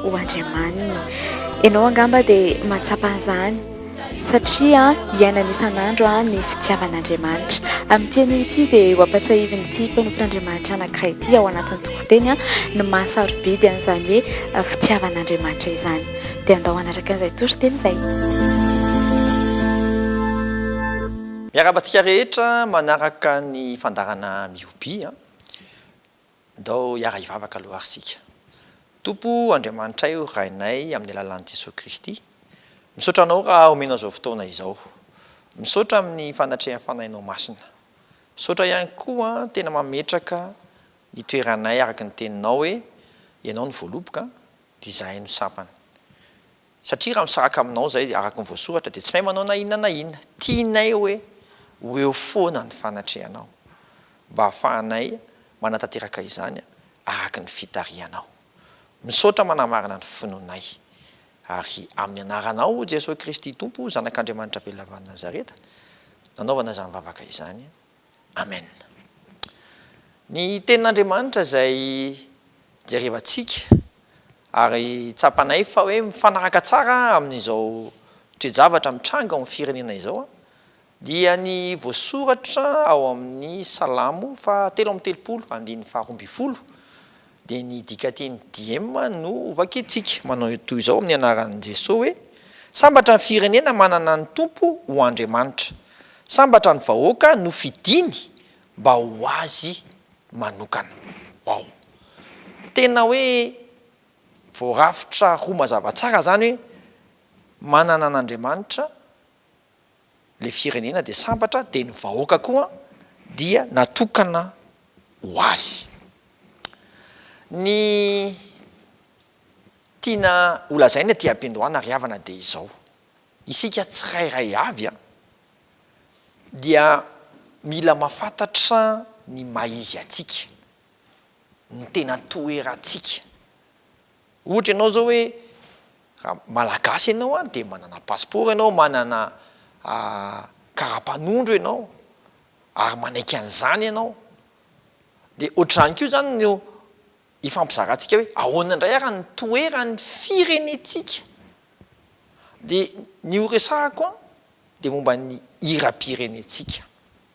ho Andriamaniny. Ianao angamba dia mahatsapa an'izany satria iainana isan'andro ny fitiavan'Andriamanitra. Amin'ity anio ity dia ho ampahatsiahivin'ity mpanompon'Andriamanitra anankiray ity ao anatin'ny toriteny ny maha sarobidy an'izany hoe fitiavan'Andriamanitra izany. Dia andao hanaraka an'izay toriteny izay. Miarahaba antsika rehetra manaraka ny fandaharana Mihoby. Ndao hiara hivavaka aloha ary isika. Tompo Andriamanitray o Rainay amin'ny alalan'i Jesoa Kristy, misaotra Anao raha omenao izao fotoana izao. Misaotra amin'ny fanatrehan'ny Fanahinao Masina. Misaotra ihany koa tena mametraka ny toeranay araka ny Teninao hoe Ianao no voaloboka dia izahay no sampany. Satria raha misaraka aminao izay araka ny voasoratra dia tsy mahay manao na inona na inona. Tianay hoe ho eo foana ny fanatrehanao mba hahafahanay manatanteraka izany araka ny fitarihanao. Misaotra manamarina ny finoanay. Ary amin'ny anaranao Jesoa Kristy Tompo Zanak'Andriamanitra Velona avy any Nazareta nanaovana izany vavaka izany. Amen. Ny tenin'Andriamanitra izay jerevantsika ary tsapanay fa hoe mifanaraka tsara amin'izao toe-javatra mitranga ao amin'ny firenena izao dia ny voasoratra ao amin'ny Salamo fahatelo amby telopolo, andininy faharoa ambin'ny folo, Dia ny dikanteny DM no hovakintsika, manao toy izao amin'ny anaran'i Jesoa hoe, Sambatra ny firenena manana ny Tompo ho Andriamanitra. Sambatra ny vahoaka nofidiny mba ho Azy manokana. Wow! Tena hoe voarafitra roa mazava tsara izany hoe, manana an'Andriamanitra, le firenena dia sambatra dia ny vahoaka koa dia natokana ho azy ny tiana ho lazaina aty ampiandohana ry havana dia izao isika tsirairay avy a dia mila mafantatra ny maha izy antsika ny tena toerantsika Ohatra ianao zao hoe raha malagasy ianao a de manana pasipaoro ianao, manana karapanondro ianao ary manaiky an'izany ianao de ohatr'izany koa zany no ifampizarantsika hoe ahoana indray ary ny toeran'ny firenentsika de ny horesahako a de momba ny hiram-pirenentsika.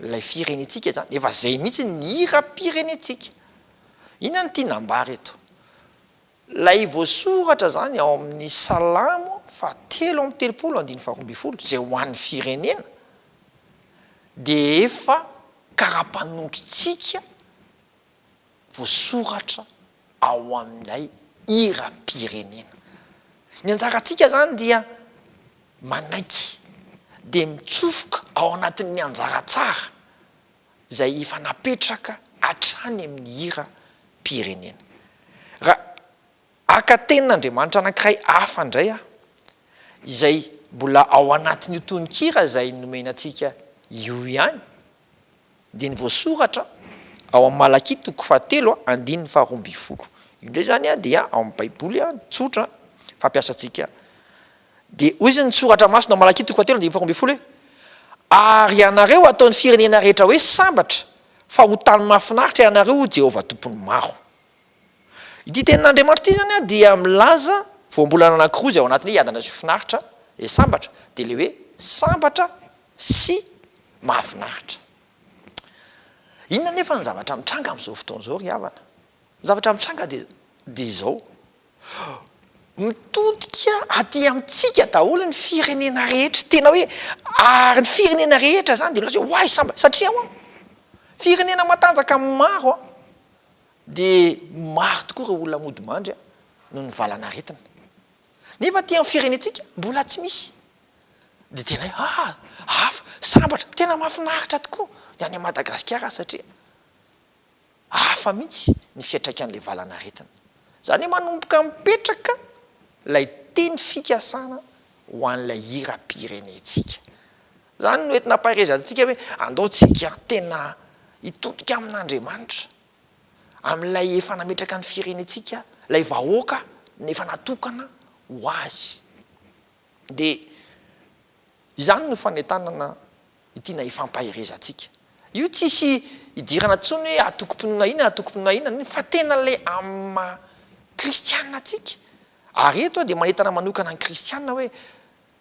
Ilay firenentsika izany, efa izay mihitsy ny hiram-pirenentsika. Inona no tiana ambara eto? Ilay voasoratra izany ao amin'ny Salamo fahatelo amby telopolo, andininy faharoa ambin'ny folo, izay ho an'ny firenena, dia efa karapanondrontsika. voasoratra ao amin'ilay hiram-pirenena. Ny anjarantsika izany dia manaiky dia mitsofoka ao anatin'ny anjara tsara izay efa napetraka hatrany amin'ny hiram-pirenena. Raha haka tenin'Andriamanitra anankiray hafa indray aho, izay mbola ao anatin'io tononkira izay nomena antsika io ihany, dia ny voasoratra ao amin'ny Malakia toko fahatelo andininy faharoa ambin'ny folo. Io indray izany dia ao amin'ny Baiboly tsotra fampiasantsika. Dia hoy izy ny soratra masina ao Malakia toko fahatelo andininy faharoa ambin'ny folo hoe, Ary ianareo hatao ny firenena rehetra hoe sambatra, fa ho tany mahafinaritra ianareo, hoy Jehovah Tompon'ny maro. Ity tenin'Andriamanitra ity izany dia milaza voambolana anankiroa izay ao anatiny hoe iadana sy ho finaritra, ilay sambatra, dia ilay hoe sambatra sy mahafinaritra. Inona anefa ny zavatra mitranga amin'izao fotoana izao ry havana? Ny zavatra mitranga dia dia izao, mitodika aty amintsika daholo ny firenena rehetra, tena hoe ary ny firenena rehetra izany dia milaza hoe ho ahy sambatra, satria ahoana? Firenena matanjaka amin'ny maro an, dia maro tokoa ireo olona mody mandry an, noho ny valan'aretina. Nefa aty amin'ny firenentsika mbola tsy misy. Dia tena hoe ah! hafa, sambatra, tena mahafinaritra tokoa ny any Madagasikara satria hafa mihitsy ny fiantraikan'ilay valanaretina. Izany hoe manomboka mipetraka ilay teny fikasana ho an'ilay hiram-pirenentsika. Izany no entina ampaherezantsika hoe andao tsika tena hitodika amin'Andriamanitra, amin'ilay efa nametraka ny firenentsika, ilay vahoaka efa natokana ho azy. Dia izany no fanentanana ity na ifampaherezantsika. Io tsisy idirana intsony hoe atokom-pinoana inona atokom-pinoana inona fa tena ilay amin'ny maha kristiana antsika. Ary eto aho dia manentana manokana ny kristiana hoe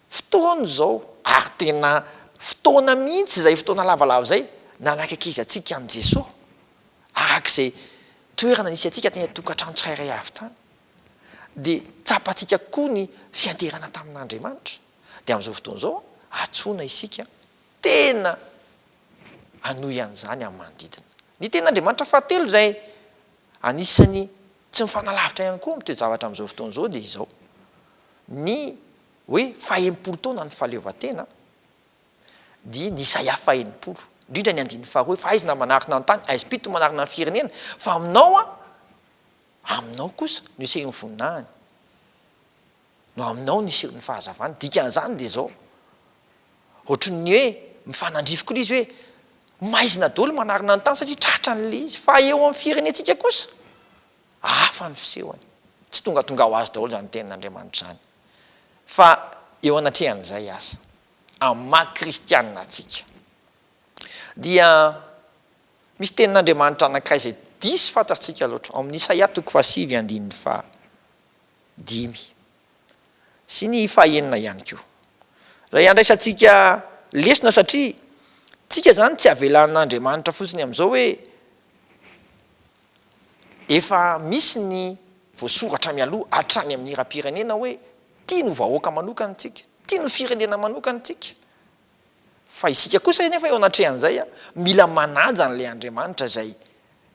fotoana izao ary tena fotoana mihitsy izay fotoana lavalava izay nanakaikezantsika an'i Jesoa araka izay toerana nisy antsika teny an-tokantrano tsirairay avy tany. dia tsapantsika koa ny fianteherana tamin'Andriamanitra, dia amin'izao fotoana izao antsoina isika tena hanohy an'izany amin'ny manodidina. Ny tenin'Andriamanitra fahatelo izay anisan'ny tsy mifanalavitra ihany koa amin'ny toe-javatra amin'izao fotoana izao dia izao, ny hoe fahenimpolo taona ny fahaleovantena dia ny Isaia fahenimpolo, indrindra ny andininy faharoa hoe fa aiza ny manarina ny tany, aiza pito ny manarina ny firenena, fa aminao aho Aminao kosa no isehin'ny voninahiny, no aminao no isehin'ny fahazavany. Dikan'izany dia izao, ohatran'ny hoe mifanandrify koa ilay izy hoe maizina daholo manarina ny tany satria tratran'ilay izy, fa eo amin'ny firenentsika kosa hafa ny fisehony. Tsy tongatonga ho azy daholo izany tenin'Andriamanitra izany, fa eo anatrehan'izay aza, amin'ny maha kristianina antsika dia. Misy tenin'Andriamanitra anankiray izay diso fantatsika loatra ao amin'ny Isaia toko fahasivy andininy faha dimy sy ny faha enina ihany koa izay andraisantsika lesona satria tsika izany tsy avelan'Andriamanitra fotsiny amin'izao hoe efa misy ny voasoratra mialoha hatrany amin'ny hiram-pirenena hoe ity no vahoaka manokan'ny tsika, ity no firenena manokan'ny tsika. Fa isika kosa anefa eo anatrehan'izay, mila manaja an'ilay Andriamanitra izay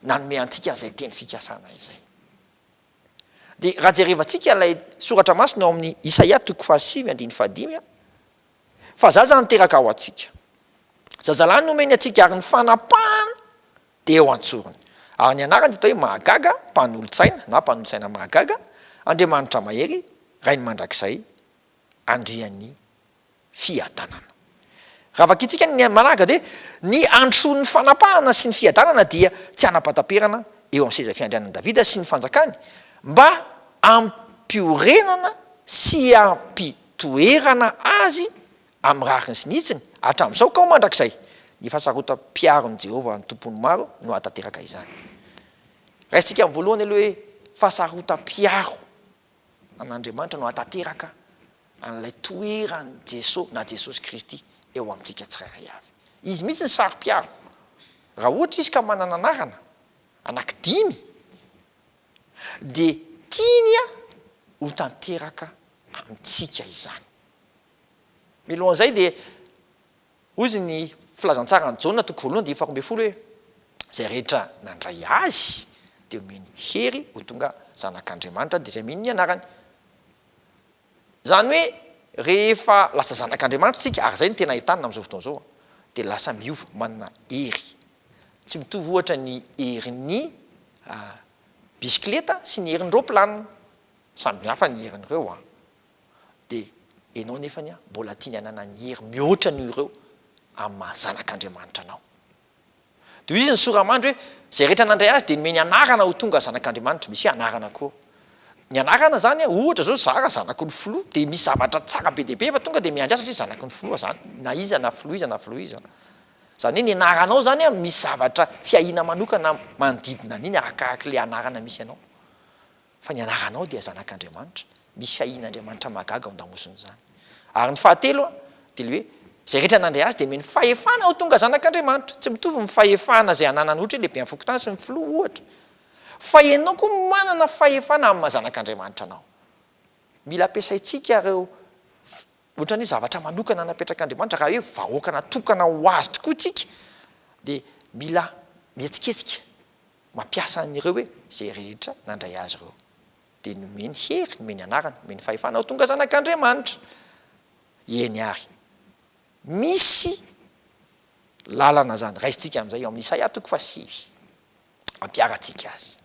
nanome antsika an'izay teny fikasana izay. Dia raha jerevantsika ilay soratra masina ao amin'ny Isaia toko fahasivy andininy fahadimy, Fa zaza niteraka ho antsika, zazalahy nomeny antsika ary ny fanapahana dia eo an-tsorony. Ary ny anarany dia atao hoe Mahagaga, Mpanolo-tsaina, na Mpanolo-tsaina Mahagaga, Andriamanitra Mahery, Rain'ny Mandrakizay, Andrian'ny fiadanana. Raha vakintsika ny amin'ny managa dia ny andron'ny fanapahana sy ny fiadanana dia tsy hanapataperana eo amin'ny seza fiandrianan'i Davida sy ny fanjakany mba hampiorenana sy hampitoerana azy amin'ny rariny sy ny hitsiny hatramin'izao ka ho mandrakizay. Ny fahasarotam-piaron'i Jehovah ny tompon'ny maro no hahatanteraka izany. Raisintsika amin'ny voalohany aloha hoe fahasarotam-piaro An'Andriamanitra no ahatanteraka an'ilay toeran'i Jesoa na Jesosy Kristy eo amintsika tsirairay avy. Izy mihitsy ny saro-piaro. Raha ohatra izy ka manana anarana anaky dimy dia tiany ho tanteraka amintsika izany. Mialohan'izay dia. Hoy ny filazantsaran'i Jaona toko voalohany andininy faharo ambin'ny folo hoe, Izay rehetra nandray Azy dia omeny hery ho tonga zanak'Andriamanitra, dia izay mino ny anarany. Izany hoe rehefa lasa zanak'Andriamanitra isika, ary izay no tena ahitana amin'izao fotoana izao, dia lasa miova, manana hery. Tsy mitovy ohatra ny herin'ny bisikileta sy ny herin'ny raoplanina. Samy hafa ny herin'ireo an! Dia ianao nefany mbola tiany hananany hery mihoatra noho ireo amin'ny maha zanak'Andriamanitra anao. Dia hoy izy ny sora-mandry hoe, izay rehetra nandray azy dia nomeny anarana ho tonga zanak'Andriamanitra. Misy hoe anarana koa. Ny anarana izany, ohatra izao za raha zanaky ny filoha dia misy zavatra tsara be dia be fa tonga dia miandry ahy satria zanaky ny filoha za, na iza na filoha iza na filoha iza. Izany hoe ny anaranao izany misy zavatra fiahiana manokana manodidina an'iny arakarak'ilay anarana misy anao. Fa ny anaranao dia Zanak'Andriamanitra, misy fiahian'Andriamanitra mahagaga ao an-damosin'izany. Ary ny fahatelo an, dia ilay hoe, izay rehetra nandray azy dia omeny fahefana ho tonga zanak'Andriamanitra. Tsy mitovy ny fahefana izay ananany ohatra hoe lehiben'ny fokontany sy ny filoha ohatra. Fa ianao koa manana fahefana amin'ny maha zanak'Andriamanitra anao. Mila ampiasaintsika ireo ohatra ny hoe zavatra manokana napetrak'Andriamanitra raha hoe vahoaka natokana ho azy tokoa isika dia mila mihetsiketsika. Mampiasa an'ireo hoe izay rehetra nandray azy ireo. Dia nomeny hery, nomeny anarana, nomeny fahefana ho tonga zanak'Andriamanitra. Eny àry. Misy lalana izany. Raisintsika amin'izay ao amin'ny Isaia toko fahasivy. Ampiharantsika azy.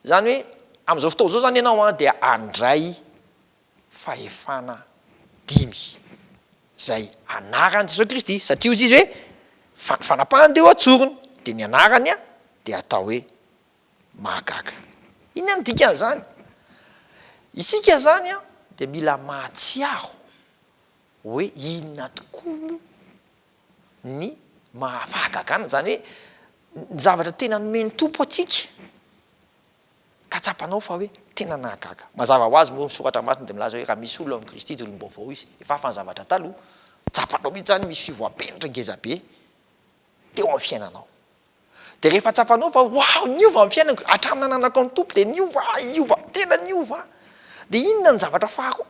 Izany hoe, amin'izao fotoana izao izany ianao dia handray fahefana dimy izay anaran'i Jesoa Kristy satria hoy izy hoe fa ny fanapahany dia ho an-tsorony dia ny anarany dia atao hoe mahagaga. Inona no dikan'izany? Isika izany dia mila mahatsiaro hoe inona tokoa moa ny maha fahagagana izany hoe ny zavatra tena nomen'ny Tompo antsika. ka tsapanao fa hoe tena nahagaga. Mazava ho azy moa ny soratra masina dia milaza hoe raha misy olona ao amin'i Kristy dia olom-baovao izy, efa hafa ny zavatra taloha, tsapanao mihitsy izany misy fivoapenitra ngeza be teo amin'ny fiainanao. Dia rehefa tsapanao fa wow niova ny fiainako, hatramin'ny nananako ny Tompo dia niova aho, hiova, tena niova aho. Dia inona ny zavatra faharoa?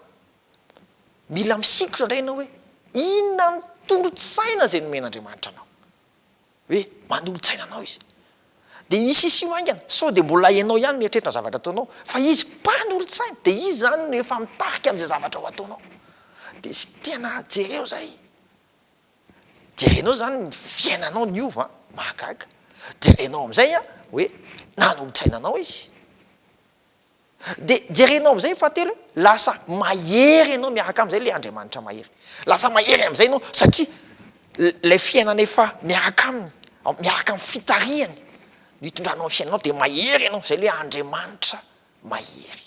Mila misikotra indray ianao hoe inona ny tolo-tsaina izay nomen'Andriamanitra anao. Hoe manolo-tsaina anao izy. Dia ny hisisiho haingana, sao dia mbola ianao ihany mieritreritra ny zavatra ataonao, fa izy mpanolo-tsaina, dia izy izany no efa mitarika amin'izay zavatra ho ataonao. Dia izy tena jereo izay. Jerenao izany ny fiainanao niova, mahagaga. Jerenao amin'izay hoe nanolo-tsaina anao izy. Dia jerenao amin'izay fahatelo hoe lasa mahery ianao miaraka amin'izay ilay Andriamanitra mahery. Lasa mahery amin'izay ianao satria ilay fiainana efa miaraka aminy, miaraka amin'ny fitarihany no itondranao ny fiainanao dia mahery ianao. Izay ilay Andriamanitra mahery.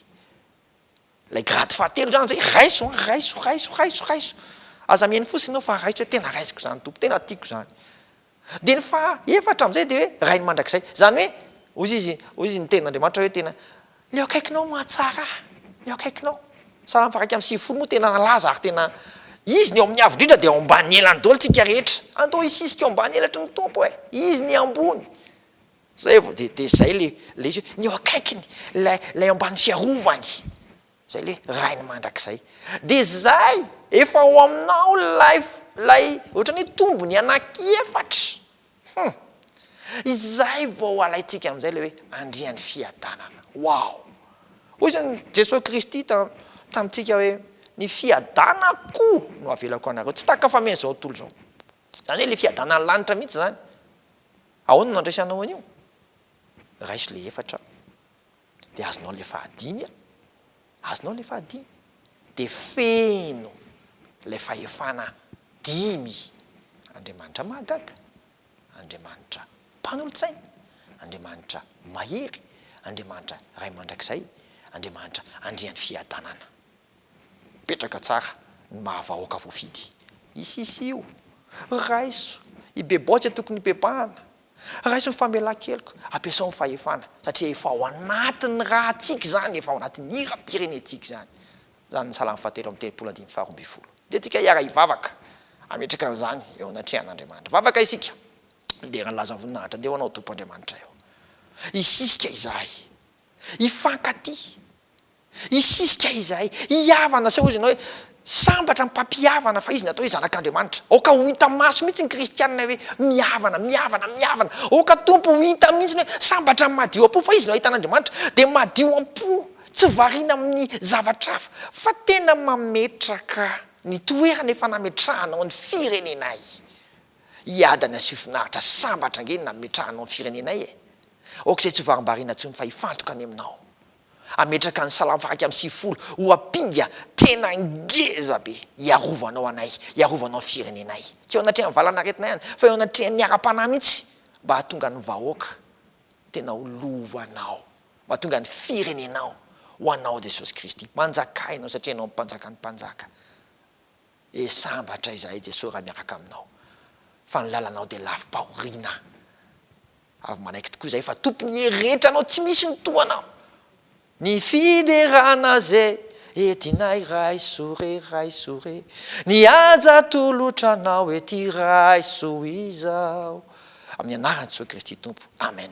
Ilay grade fahatelo izany izay, raiso an, raiso, raiso, raiso, raiso. Aza mihaino fotsiny ianao fa raiso hoe tena raisiko izany Tompo, tena tiako izany. Dia ny faha efatra amin'izay dia hoe Rain'ny mandrakizay. Izany hoe, hozy izy, hoy izy ny tenin'Andriamanitra hoe tena, ny eo akaikinao no hahatsara ahy, ny eo akaikinao. Salamo faha iraika amby sivifolo moa tena nalaza ary tena, Izy ny eo amin'ny avo indrindra dia ao ambanin'ny elan'ny daholo isika rehetra. Andao hisisika eo ambanin'ny elatry ny Tompo e! Izy ny ambony. Izay vao dia, dia izay ilay, ilay izy hoe, ny eo akaikiny, ilay, ilay ao ambanin'ny fiarovany. Zay le rainy mandrakizay. De zay efa ao aminao lay lay ohatrany hoe tombony anaky efatra. Hum. Izay vao alaintsika amizay le hoe andriany fiadanana. Wow. Hoy zany Jesoa Kristy tam tamitsika hoe ny fiadanako no avelako anareo. Tsy taka fa mihezao tontolo zao. Zany hoe le fiadanany lanitra mihitsy zany. Ahoana no andraisanao anio? Raiso le efatra. Dia azonao ilay fahadimy an! Azonao ilay fahadimy. Dia feno ilay fahefana dimy Andriamanitra mahagaga, Andriamanitra mpanolotsaina, Andriamanitra mahery, Andriamanitra Ray mandrakizay, Andriamanitra Andrian'ny fiadanana. Mipetraka tsara ny maha vahoaka voafidy. Isisio! Raiso! Ibebaotsy antokony ipepahana! Raiso ny famelan-keloka, ampiasao ny fahefana satria efa ao anatin'ny ratsika izany, efa ao anatin'ny hiram-pirenentsika izany izany ny Salamo fahatelo amby telopolo andininy faharoa ambin'ny folo. Dia antsika hiara-hivavaka, hametraka an'izany eo anatrehan'Andriamanitra. Vavaka isika, Midera ny laza voninahitra dia ho Anao Tompo Andriamanitra eo. Hisisika izahay, hifankatia. Hisisika izahay, hihavana sy haoizana hoe sambatra ny mpampihavana fa izy natao hoe zanak'Andriamanitra. Aoka ho hita maso mihitsy ny kristianina hoe mihavana, mihavana, mihavana. Aoka Tompo ho hita mihitsy ny hoe sambatra ny madio am-po fa izy no ahitan'Andriamanitra. Dia madio am-po, tsy variana amin'ny zavatra hafa fa tena mametraka ny toerana efa nametrahanao ny firenenay. Hiadana sy ho finaritra, sambatra ange ny nametrahanao ny firenenay e. Aoka izay tsy ho varimbariana intsony fa hifantoka any aminao. Ametraka ny salanfahaka amin'ny sivifolo ho ampinga tena ngeza be hiarovanao anay, hiarovanao ny firenenay. Tsy eo anatrehan'ny valan'aretina ihany fa eo anatrehan'ny ara-panahy mihitsy mba hahatonga ny vahoaka tena ho lovanao, mba hahatonga ny firenenao ho anao Jesosy Kristy. Manjaka ianao satria ianao no Mpanjakan'ny mpanjaka. Ee sambatra izahay Jesoa raha miaraka aminao fa ny lalanao dia lafim-pahoriana. Avy manaiky tokoa izay fa tompony heretra anao tsy misy ny toa anao ny fiderana ze entinay raiso re raiso re ny haja tolotranao ety raiso izao amin'ny anaran'i jesoa kristy tompo amen.